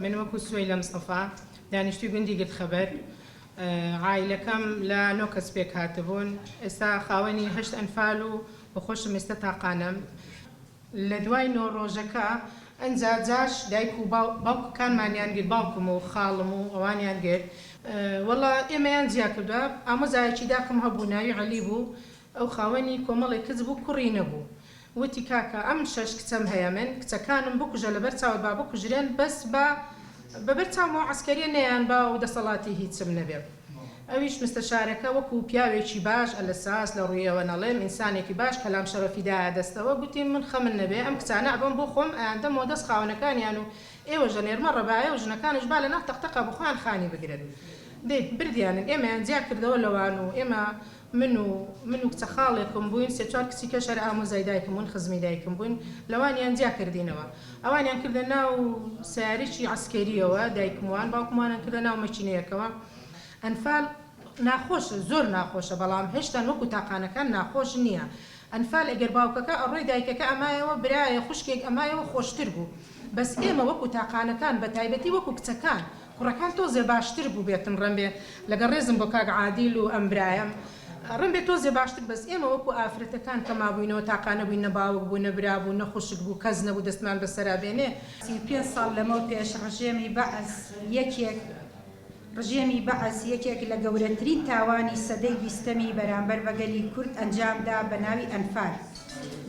من وەکو سوەیلە مستەفا دانیشتوی گوندی گردخەبەر عایلەکەم لە نۆ کەس پێکهاتبوون ئێستا خاوەنی هەشت ئەنفال و بەخۆشم ئێستا تاقانەم لە دوای نۆ ڕۆژەکە ئنجا جاش دایک و باوکەکانمانیان گرت باوکم و خاڵم و ئەوانیان گرت وەڵا ئێمەیان جیا کردوە ئامۆزایەکی داکم هەبوو ناوی عەلی بوو ئەو خاوەنی کۆمەڵێ کچ بوو کوڕی نەبوو وتی کاکە ئەم شەش کچەم هەیە من کچەکانم بکوژە لەبەر چاوت با بکوژرێن بەس با بەبەر چاوم ئەو عەسکەریە نەیان با و دەسەڵاتی هیچم نەبێ ئەویش مستەشارەکە وەکو پیاوێکی باش ئەلساس لە ڕویەوە نەڵێم ئینسانێکی باش کەلام شەرەفی دایە دەستەوە گوتی من خەمن نەبێ ئەم کچانە ئەبەم بۆ خۆم ئەیاندەم وە دەست خاوەنەکانیان و ئێوەش ئەنێرمە ڕەبایە و ژنەکانش با لەناو تەقتەقا بۆ خۆیان خانی بگرن دەی بردیانن ئێمەیان جیا کردەوە لەوان و ئێمە من و من و کچە خاڵێکم بووین، سێ چوار کچی کەش هەر ئامۆزای دایکم بوون، خزمی دایکم بووین، لەوانیان جیا کردینەوە. ئەوانیان کردە ناو سەیارەیەکی عەسکەرییەوە، دایکموان، باوکموانیان کردە ناو مەکینەیەکەوە. ئەنفال ناخۆشە، زۆر ناخۆشە، بەڵام هێشتان وەکوو تاقانەکان ناخۆش نییە. ئەنفال ئەگەر باوکەکە ئەڕۆی دایکەکە ئەمایەوە، برایە خوشکێک ئەمایەوە خۆشتر بوو. بەس ئێمە وەکوو تاقانەکان، بەتایبەتی وەکوو کچەکان، کوڕەکان تۆزێ باشتر بوبێتن ڕەنبێ لەگەڵ ڕێزم بۆ کاک عادیل و ئەم برایەم ڕەنبێ تۆزێ باشتر بەس ئێمە وەکو ئافرەتەکان کە مابوینەوە تاقانە بوین نە باوک بو نە برا بو نە خوشک بو کەس نەبو دەستمان بەسەرا بێنێ سی و پێنج ساڵ لەمەو پێش ڕژێمی بەعس یەکێک ڕژێمی بەعس یەکێک لە گەورەترین تاوانی سەدەی بیستەمی بەرامبەر بە گەلی کورد ئەنجام دا بە ناوی ئەنفال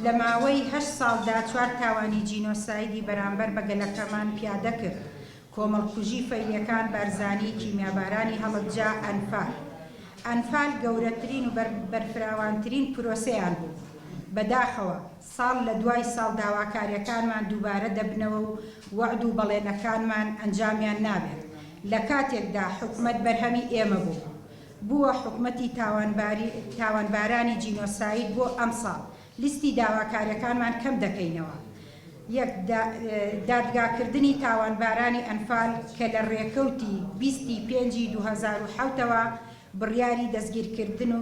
لە ماوەی هەشت ساڵ دا چوار تاوانی جینۆسایدی بەرامبەر بە گەلەکەمان پیادە کرد کۆمەڵکوژی فەیلیەکان بارزانی کیمیابارانی هەڵەبجە ئەنفال ئەنفال گەورەترین و بەرفراوانترین پرۆسەیان بوو بەداخەوە ساڵ لەدوای ساڵ داواکاریەکانمان دووبارە دەبنەوە و وەعد و بەڵێنەکانمان ئەنجامیان نابێت لەکاتێکدا حکومەت بەرهەمی ئێمە بوو بووە حکومەتی تاوانبارانی جینۆساید بۆ ئەمساڵ لیستی داواکاریەکانمان کەم دەکەینەوە، یەک، دادگاکردنی تاوانبارانی ئەنفال کە لە رێکەوتی بیست ی پێنج ی دوو هەزار و حەوت ەوە بڕیاری دەستگیرکردن و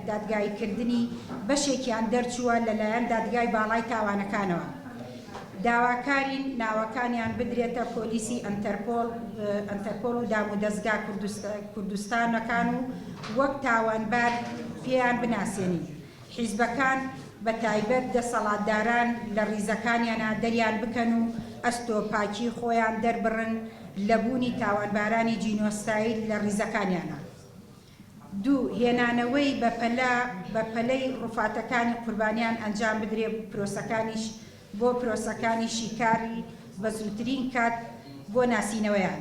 دادگاییکردنی بەشێکیان دەرچووە لەلایەن دادگای باڵای تاوانەکانەوە داواکارین ناوەکانیان بدرێتە پۆلیسی ئەنتەرپۆڵ و دامودەزگا کوردستانەکان و وەک تاوانبار پێیان بناسێنین. حیزبەکان بە تایبەت دەسەڵاتداران لە ڕیزەکانیانا دەریان بکەن و ئەستۆ پاکی خۆیان دەربڕن لە بوونی تاوانبارانی جینۆساید لە ڕیزەکانیانا. دوو، هێنانەوەی بە پەلە بە پەلەی ڕوفاتەکانی قوربانیان ئەنجام بدرێ پرۆسەکانیش بۆ پرۆسەکانی شیکاری بە زووترین کات بۆ ناسینەوەیان.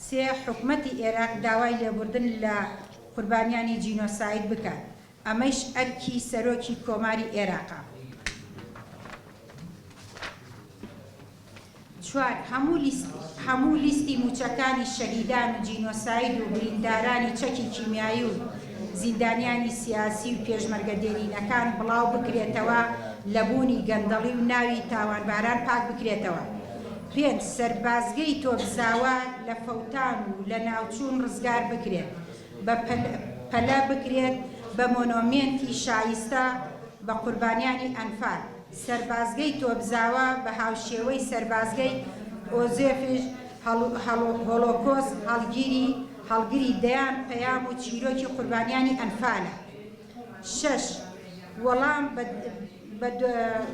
سێ، حکومەتی ئێراق داوای لێبوردن لە قوربانیانی جینۆساید بکات ئەمەیش ئەرکی سەرۆکی کۆماری ئێراقە. چوار، هەموو لیستی مووچەکانی شەهیدان و جینۆساید و بریندارانی چەکی کیمیایی و زیندانیانی سیاسی و پێشمەرگە دێرینەکان بڵاو بکرێتەوە لە بوونی گەندەڵی و ناوی تاوانباران پاک بکرێتەوە. پێنج، سەربازگەی تۆپزاوا لە فەوتان و لەناوچوون ڕزگار بکرێت. بە پەلە بکرێت بە مۆنۆمێنتی شایستە بە قوربانیانی ئەنفال. سەربازگەی تۆپزاوا بە هاوشێوەی سەربازگەی ئۆزێفیش هۆڵۆکۆست هەڵگری هەڵگری دەیان پەیام و چیرۆکی قوربانیانی ئەنفالە. شەش، وەڵام بە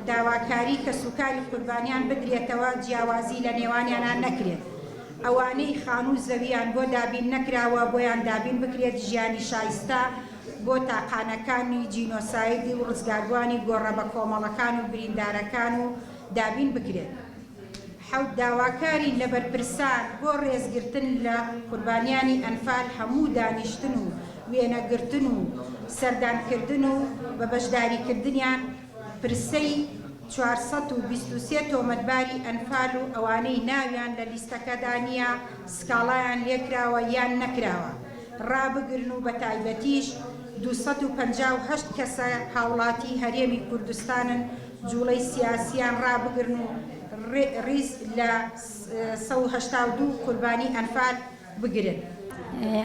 داواکاری کەسوکاری قوربانیان بدرێتەوە جیاوازی لە نێوانیانا نەکرێت، ئەوانەی خانوو زەوییان بۆ دابین نەکراوە بۆیان دابین بکرێت، ژیانی شایستە بۆ تاقانەکانی جینۆساید و ڕزگاربووانی گۆڕە بەکۆمەڵەکان و بریندارەکان و دابین بکرێت. حەوت داواکاری لە بەرپرسان بۆ رێزگرتن لە قوربانیانی ئەنفال هەموو دانیشتن و وێنەگرتن و سەردانکردن و بە بەشداریکردنیان پرسەی چوار سەد و بیست و سێ تۆمەتباری ئەنفال و ئەوانەی ناویان لە لیستەکەدا نییە سکاڵایان لێکراوە یان نەکراوە رابگرن و بەتایبەتیش دوو سەد و پەنجا و هەشت کەسە هاوڵاتی هەرێمی کوردستانن جوڵەی سیاسییان ڕابگرن و ڕیز لە سەد و هەشتا و دوو قوربانی ئەنفال بگرن.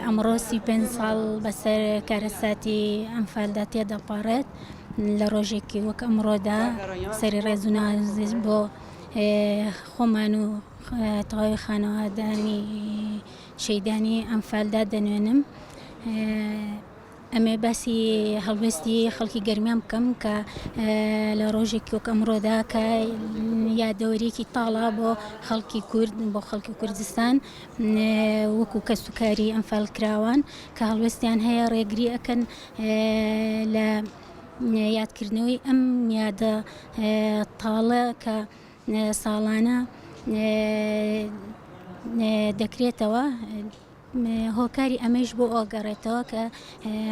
ئەمڕۆ سی و پێنج ساڵ بەسەر کارەساتی ئەنفالدا تێدەپەڕێت، لە ڕۆژێکی وەک ئەمڕۆدا سەری ڕێز و نازش بۆ خۆمان و تەواوی خانەوادانی شەیدانی ئەنفالدا دەنوێنم. ئەمەوێت باسی هەڵوێستی خەڵکی گەرمیان بکەم کە لە ڕۆژێکی وەک ئەمڕۆدا کە یادەوەریەکی تاڵا بۆ خەڵکی کورد بۆ خەڵکی کوردستان وەکو کەس و کاری ئەمفال کراوان کە هەڵوێستیان هەیە ڕێگری ئەەکەن لە یادکردنەوەی ئەم یادە تاڵە کە ساڵانە دەکرێتەوە هۆکاری ئەمەیش بۆ ئەوەگەڕێتەوە کە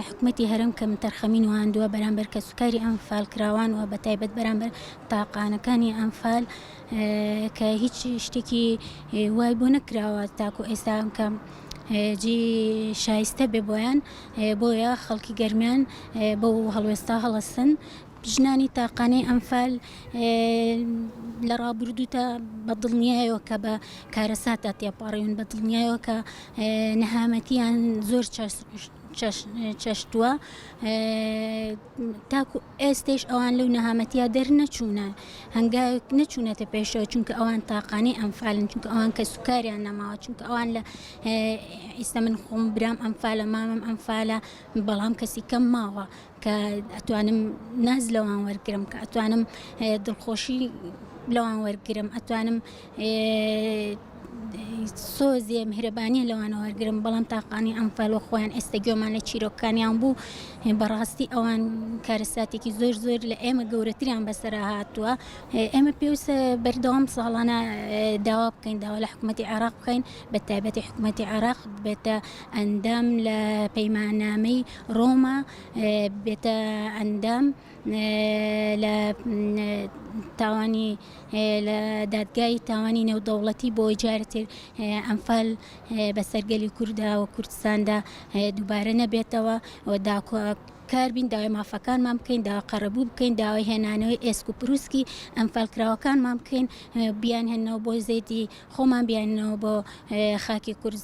حکومەتی هەرێم کەمتەرخەمی نواندووە بەرامبەر کەسوکاری ئەنفالکراوان و بەتایبەت بەرامبەر تاقانەکانی ئەنفال کە هیچ شتێکی وای بۆ نەکراوە تاکو ئێستا کەم جی شایستە بێ بۆیان بۆیە خەڵکی گەرمیان بۆ هەڵوێستا هەڵستن ژنانی تاقانەی ئەنفال لە ڕابردوودا بە دڵنیایەوە کە بە کارەساتدا تێپەڕیون بە دڵنیایەوە کە نەهامەتیان زۆر چەشتووە تاکو ئێستش ئەوان لەو نەهامەتیا دەرنەچوونە هەنگاوێک نەچوونەتە پێشەوە چونکە ئەوان تاقانەی ئەمفالن چونکە ئەوان کە سوکاریان نەماوە چونکە ئەوان لە ئیستا من خۆم برام ئەمفالە مامم ئەمفالە بەڵام کەسی کەم ماوە کە ئەتوانم ناز لەوان وەرگرم کە ئەتوانم دڵخۆشی لەوان وەرگرم ئەتوانم سۆزێ میهرەبانیە لەوانە وەرگرم بەڵام تاقانی ئەمفالۆ خۆیان ئێستا گوێمان لە چیرۆکانیان بوو بەڕاستی ئەوان کارەساتێکی زۆر زۆر لە ئێمە گەورەتریان بەسەر هاتووە ئێمە پێویستە بەردەوام ساڵانە داوا بکەین داوا لە حکوومەتتی عراق بکەین بە تایبەتی حکوومەتتی عراق بێتە ئەندام لە پەیمانامەی ڕۆما بێتە ئەندام لە تاوانی لە دادگای تاوانی نێودەوڵەتی بۆی جارتر ئەمفال بە سەرگەلی کووردا و کوردستاندا دووبارە نەبێتەوە و داکۆ کار بین داوای مافەکانمان بکەین داوا قەرەبوو بکەین داوای هێنانەوەی ئێسک و پرووسکی ئەمفالکراوەکانمان بکەین بیان هێنەوە بۆ زێدی خۆمان بیاننەوە بۆ خاکی کورد.